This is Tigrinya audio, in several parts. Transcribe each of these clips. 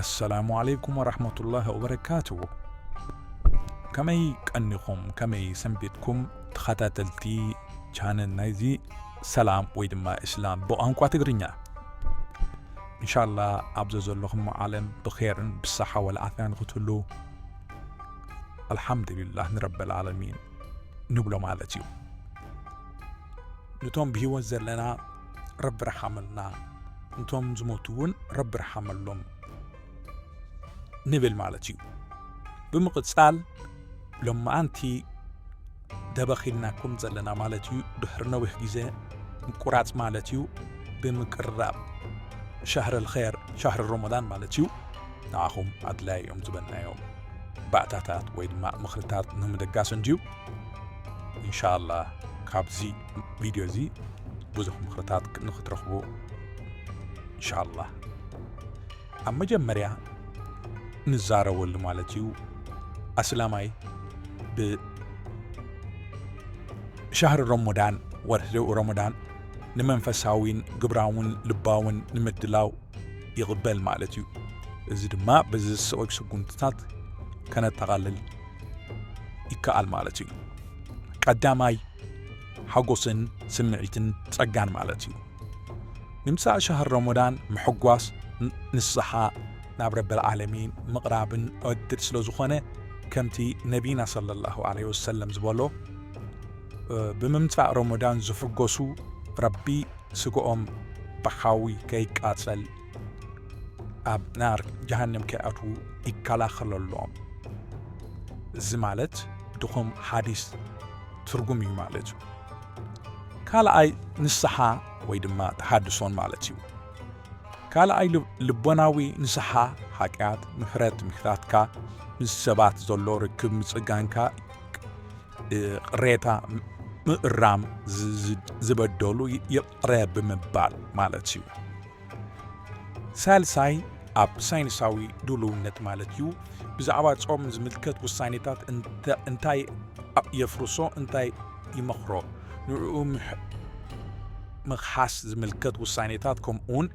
ኣሰላሙ ዓለይኩም ወረሕመቱላህ ወበረካቱ ከመይ ቀኒኹም ከመይ ሰንቢትኩም ተኸታተልቲ ቻነል ናይዚ ሰላም ወይ ድማ እስላም ብቋንቋ ትግርኛ እንሻላ ኣብዘ ዘለኹም ዓለም ብኼርን ብሳሓ ወልዓፍያ ንኽትህሉ ኣልሓምዱልላህ ንረበልዓለሚን ንብሎ ማለት እዩ ንቶም ብህይወት ዘለና ረቢ ረሓመልና ንቶም ዝሞቱ እውን ረቢ ረሓመሎም ንብል ማለት እዩ ብምቕጻል ሎማኣንቲ ደበኺልናኩም ዘለና ማለት እዩ ድሕሪ ነዊሕ ግዜ ምቁራጽ ማለት እዩ ብምቅርራብ ሻህር ልኸር ሻህር ሮሞዳን ማለት እዩ ንኣኹም ኣድላይ እዮም ዝበልናዮም ባእታታት ወይ ድማ ምኽርታት ንምድጋስ እንድዩ ኢንሻላህ ካብዚ ቪድዮ እዚ ብዙሕ ምኽርታት ንኽትረኽቡ ኢንሻላህ ኣብ መጀመርያ ንዛረበሉ ማለት እዩ ኣስላማይ ብሻህሪ ሮሞዳን ወርሒ ሮሞዳን ንመንፈሳዊን ግብራውን ልባውን ንምድላው ይቕበል ማለት እዩ እዚ ድማ በዚ ዝስዕብ ስጉምትታት ከነጠቓልል ይከኣል ማለት እዩ። ቀዳማይ ሓጎስን ስምዒትን ጸጋን ማለት እዩ። ንምሳእ ሻህር ረመዳን ምሕጓስ ንስሓ ናብ ረበል ዓለሚን ምቕራብን ዕድል ስለ ዝኾነ ከምቲ ነቢና ሰለላሁ ዐለይሂ ወሰለም ዝበሎ ብምምጻእ ረመዳን ዝሕጎሱ ረቢ ስግኦም ብሓዊ ከይቃጸል ኣብ ናር ጀሃንም ከይኣትዉ ይከላኸለሎም። እዚ ማለት ድኹም ሓዲስ ትርጉም እዩ ማለት እዩ። ካልኣይ ንስሓ ወይ ድማ ተሃድሶን ማለት እዩ። ካልኣይ ልቦናዊ ንስሓ ሓጢኣት ምሕረት ምሕራትካ ምስ ሰባት ዘሎ ርክብ ምጽጋንካ ቅሬታ ምእራም ዝበደሉ ጥረ ብምባል ማለት እዩ። ሳልሳይ ኣብ ሳይንሳዊ ድሉውነት ማለት እዩ ብዛዕባ ጾም ዝምልከት ውሳኔታት እንታይ የፍርሶ እንታይ ይመኽሮ ንዕኡ ምኽሓስ ዝምልከት ውሳኔታት ከምኡውን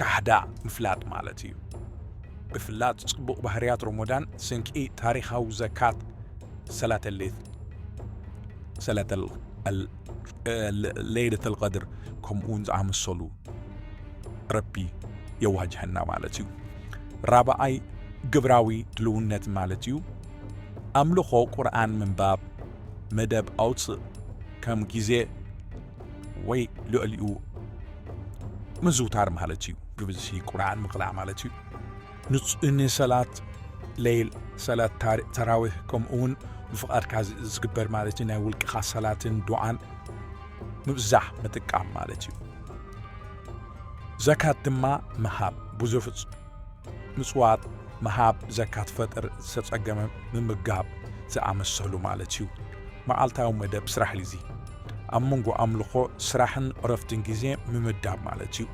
ካሕዳ ምፍላጥ ማለት እዩ። ብፍላጥ ጽቡቕ ባህርያት ሮሞዳን ስንቂ ታሪኻዊ ዘካት ሰላተሌት ሰላተል ለይለተል ቀድር ከምኡውን ዝኣመሰሉ ረቢ የዋጅሀና ማለት እዩ ራብኣይ ግብራዊ ድልውነት ማለት እዩ ኣምልኾ ቁርኣን ምንባብ መደብ ኣውፅእ ከም ግዜ ወይ ልዕሊኡ ምዝውታር ማለት እዩ ብብዝሒ ቁርኣን ምቕላዕ ማለት እዩ ንጹህኒ ሰላት ለይል፣ ሰላት ታር ተራዊህ፣ ከምኡውን ብፍቓድካ ዝ ዝግበር ማለት እዩ ናይ ውልቅኻ ሰላትን ዱዓን ምብዛሕ ምጥቃም ማለት እዩ። ዘካት ድማ ምሃብ ብዙፍጽ ምጽዋት ምሃብ ዘካት ፈጥር ዝተጸገመ ምምጋብ ዝኣመሰሉ ማለት እዩ። መዓልታዊ መደብ ስራሕ ሊዚ ኣብ መንጎ ኣምልኾ ስራሕን ዕረፍትን ግዜ ምምዳብ ማለት እዩ።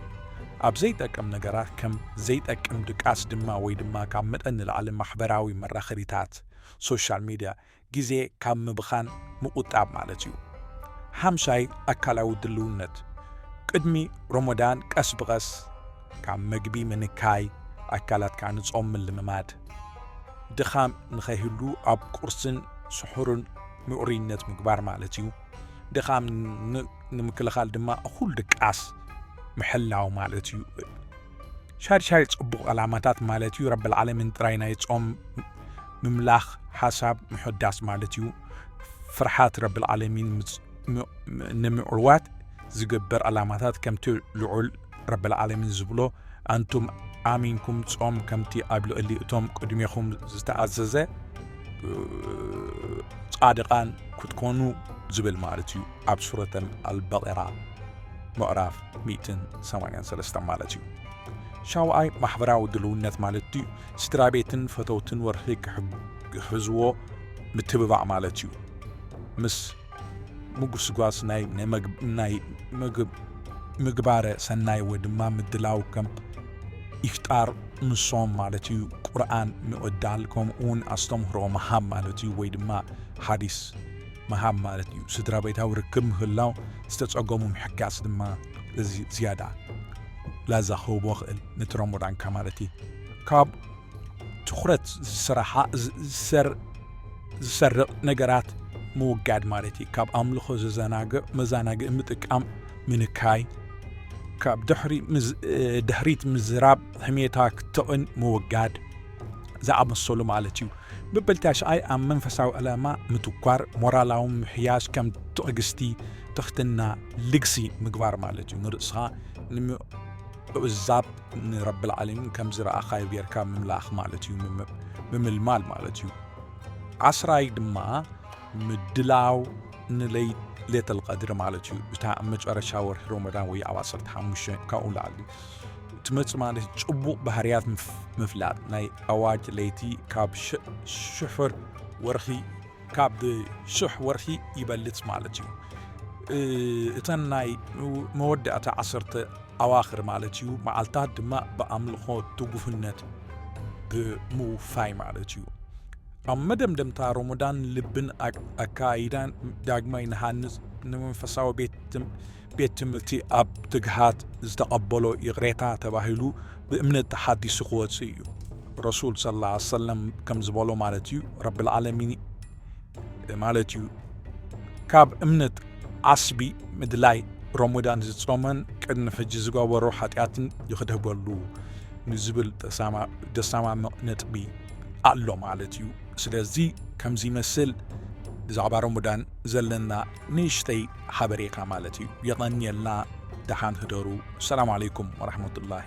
ኣብ ዘይጠቅም ነገራት ከም ዘይጠቅም ድቃስ ድማ ወይ ድማ ካብ መጠን ንላዕሊ ማሕበራዊ መራኸቢታት፣ Social Media፣ ግዜ ካብ ምብኻን ምቑጣብ ማለት እዩ። ሓምሻይ ኣካላዊ ድልውነት፣ ቅድሚ ሮሞዳን ቀስ ብቐስ ካብ መግቢ ምንካይ፣ ኣካላትካ ንጾም ምልምማድ። ድኻም ንኸይህሉ ኣብ ቁርስን ስሑርን ምዕሩይነት ምግባር ማለት እዩ። ድኻም ንምክልኻል ድማ እኹል ድቃስ ምሕላው ማለት እዩ። ሻድሻይ ጽቡቕ ዕላማታት ማለት እዩ ረቢ ልዓለምን ጥራይ ናይ ጾም ምምላኽ ሓሳብ ምሕዳስ ማለት እዩ ፍርሓት ረቢ ልዓለሚን ንምዕዋት ዝግበር ዕላማታት ከምቲ ልዑል ረብልዓለሚን ዝብሎ ኣንቱም ኣሚንኩም ጾም ከምቲ ኣብ ልዕሊ እቶም ቅድሜኹም ዝተኣዘዘ ጻድቓን ክትኮኑ ዝብል ማለት እዩ ኣብ ሱረተል ኣልበቐራ ምዕራፍ 183 ማለት እዩ ሻውኣይ ማሕበራዊ ድልውነት ማለት እዩ ስድራ ቤትን ፈተውትን ወርሒ ክሕዝዎ ምትብባዕ ማለት እዩ ምስ ምጉስጓስ ናይ ናይ ምግባረ ሰናይ ወይ ድማ ምድላው ከም ኢፍጣር ምሶም ማለት እዩ ቁርኣን ምቕዳል ከምኡ እውን ኣስተምህሮ መሃብ ማለት እዩ ወይ ድማ ሓዲስ መሃብ ማለት እዩ ስድራ ቤታዊ ርክብ ምህላው ዝተጸገሙ ምሕጋስ ድማ እዚ ዝያዳ ላዛ ክህቦ ኽእል ነቲ ረሞዳንካ ማለት እዩ ካብ ትኹረት ዝስራሓ ዝሰርቕ ነገራት ምውጋድ ማለት እዩ። ካብ ኣምልኾ ዘዘናግዕ መዘናግዒ ምጥቃም ምንካይ፣ ካብ ድሕሪት ምዝራብ ሕሜታ ክትቕን ምውጋድ ዝኣመሰሉ ማለት እዩ። መበል ታሽዓይ ኣብ መንፈሳዊ ዕላማ ምትኳር፣ ሞራላዊ ምሕያሽ ከም ትዕግስቲ፣ ትኽትና፣ ልግሲ ምግባር ማለት እዩ ንርእስኻ እዛብ ንረብልዓለሚን ከም ዝረኣኻዮ ጌርካ ምምላኽ ማለት እዩ ምምልማል ማለት እዩ ዓስራይ ድማ ምድላው ንለይት ሌተል ቀድሪ ማለት እዩ እታ ኣብ መጨረሻ ወርሒ ሮመዳን ወይ ኣብ 15 ካብኡ ላዕሊ ትመፅእ ማለት ፅቡቕ ባህርያት ምፍላጥ ናይ ኣዋጅ ለይቲ ካብ ሽሑር ወርኺ ካብ ሽሕ ወርሒ ይበልፅ ማለት እዩ እተን ናይ መወዳእታ ዓሰርተ ኣዋኽር ማለት እዩ መዓልታት ድማ ብኣምልኾ ትጉህነት ብምውፋይ ማለት እዩ ኣብ መደምደምታ ሮሞዳን ልብን ኣካይዳን ዳግማይ ንሃንፅ ንመንፈሳዊ ቤት ቤት ትምህርቲ ኣብ ትግሃት ዝተቐበሎ ይቕሬታ ተባሂሉ ብእምነት ተሓዲሱ ክወጽእ እዩ። ረሱል ሰለላሁ ዐለይሂ ወሰለም ከም ዝበሎ ማለት እዩ ረብል ዓለሚን ማለት እዩ ካብ እምነት ዓስቢ ምድላይ ሮሞዳን ዝጾመን ቅድሚ ሕጂ ዝገበሮ ሓጢኣትን ይኽደበሉ ንዝብል ደሳማምቕ ነጥቢ ኣሎ ማለት እዩ። ስለዚ ከምዚ ይመስል ብዛዕባ ሮሞዳን ዘለና ንእሽተይ ሓበሬታ ማለት እዩ የቐንየልና ደሓን ህደሩ ሰላም ዓለይኩም ወራህመቱላሂ